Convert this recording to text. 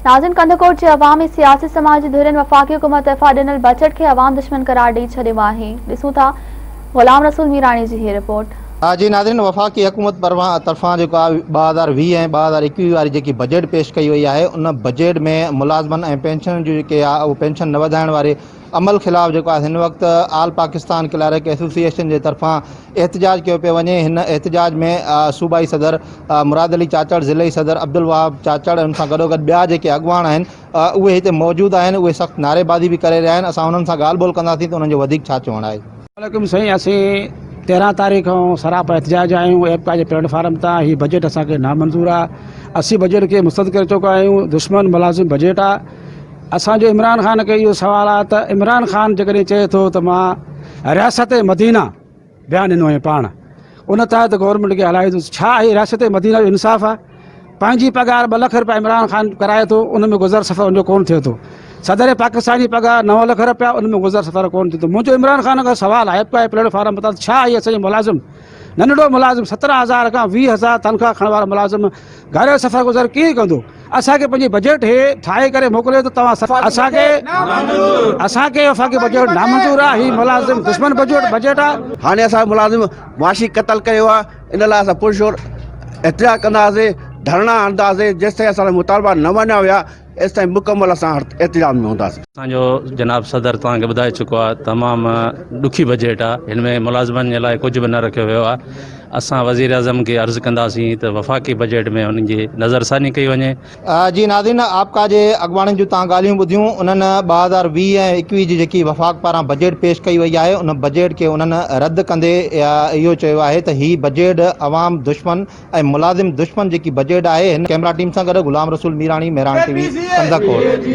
ناظم ڪنڌڪوٽ جي عوام ۽ سياسي سماجي ڌرين وفاقي حڪومت طرفان ڏنل بجيٽ کي عوام دشمن قرار ڏئي ڇڏيو آهي ڏسون ٿا غلام رسول ميراڻي جي هي رپورٽ. جي ناظرين وفاقي حڪومت طرفان جيڪو آهي ٻه هزار ويهه ۽ ٻه هزار ايڪويهه واري جيڪي بجيٽ پيش ڪئي وئي آهي ان بجيٽ ۾ ملازمن ۽ پينشنن جون جيڪي آهي اهو پينشن نه وڌائڻ واري عمل خلاف جيڪو آهي هن وقت آل پاڪستان ڪلارڪ ايسوسيئيشن جي طرفان احتجاج ڪيو پيو وڃي هن احتجاج ۾ صوبائي صدر مراد علي چاچڙ ضلعي صدر عبدالوهاب چاچڙ ان سان گڏوگڏ ٻيا جيڪي اڳواڻ آهن اهي هتي موجود آهن اهي سخت نعري بازي به ڪري رهيا آهن اسان انهن سان ڳالهه ٻولهه ڪنداسين ته انهن جو وڌيڪ ڇا چوڻ آهي وعليڪم سائين اسين تيرهن تاريخ کان سراپا احتجاج آهيون ايپ کا جي پليٽ فارم تان هي بجيٽ اسانکي نامنظور آهي اسين بجيٽ کي مسترد ڪري چڪا آهيون دشمن ملازم بجيٽ آهي اسان جو عمران خان کي اهو سوال آهي ته عمران خان جيڪڏهن چئي ٿو ته مان رياست مدينه بيان ڏنو هئي پاڻ ان تحت گورنمينٽ کي هلائيندس ڇا هي رياست مدينه جو انصاف آهي پنهنجي پگهار ٻه لک روپيا عمران خان ڪرائي ٿو ان ۾ گذر سفر ان جو ڪون ٿئي ٿو صدر پاڪستان جي پگهار نو لک روپيا ان ۾ گذر سفر ڪون ٿئي ٿو منهنجو عمران خان کان سوال آهي پاء پليٽ فارم بتا ڇا هي اسان جي ملازم ننڍڙو ملازم سترهن هزار کان ويهه هزار تنخواهه کڻڻ وارا ملازم گهر سفر گذر ڪيئن ڪندو اسان کي پنهنجي بجيٽ هي ٺاهي ڪري موڪليو ته توهان سفر اسان کي اسان کي وفاقي بجيٽ نامنظور آهي هي ملازم دشمن بجيٽ بجيٽ آهي هاڻي اسان ملازم معاشي قتل ڪيو آهي ان لاء اسان پرزور احتجاج ڪنداسين ڌرڻا هڻنداسين جيستائين اسان جا مطالبا نه مڃيا ويا ايستائين مڪمل اسان احتجاج ۾ هونداسين. اسان جو جناب صدر توهان کي ٻڌائي چڪو آهي تمام ڏکي بجيٽ آهي هن ۾ ملازمن جي لاء ڪجهه به نه رکيو ويو آهي اسان وزيراعظم کي عرض ڪنداسين ته وفاقي بجيٽ ۾ انهن جي نظر ثاني ڪئي وڃي. جي ناظرين آپ ڪا جي اڳواڻن جون توهان ڳالهيون ٻڌيون انهن ٻه هزار ويهه ۽ ايڪويهه جي جيڪي وفاق پاران بجيٽ پيش ڪئي وئي آهي ان بجيٽ کي انهن رد ڪندي اهو چيو آهي ته هي بجيٽ عوام دشمن ۽ ملازم دشمن جيڪي بجيٽ آهي هن ڪئميرا ٽيم سان گڏ غلام رسول ميراڻي مهراڻ ٽي وي ڪنڌڪوٽ.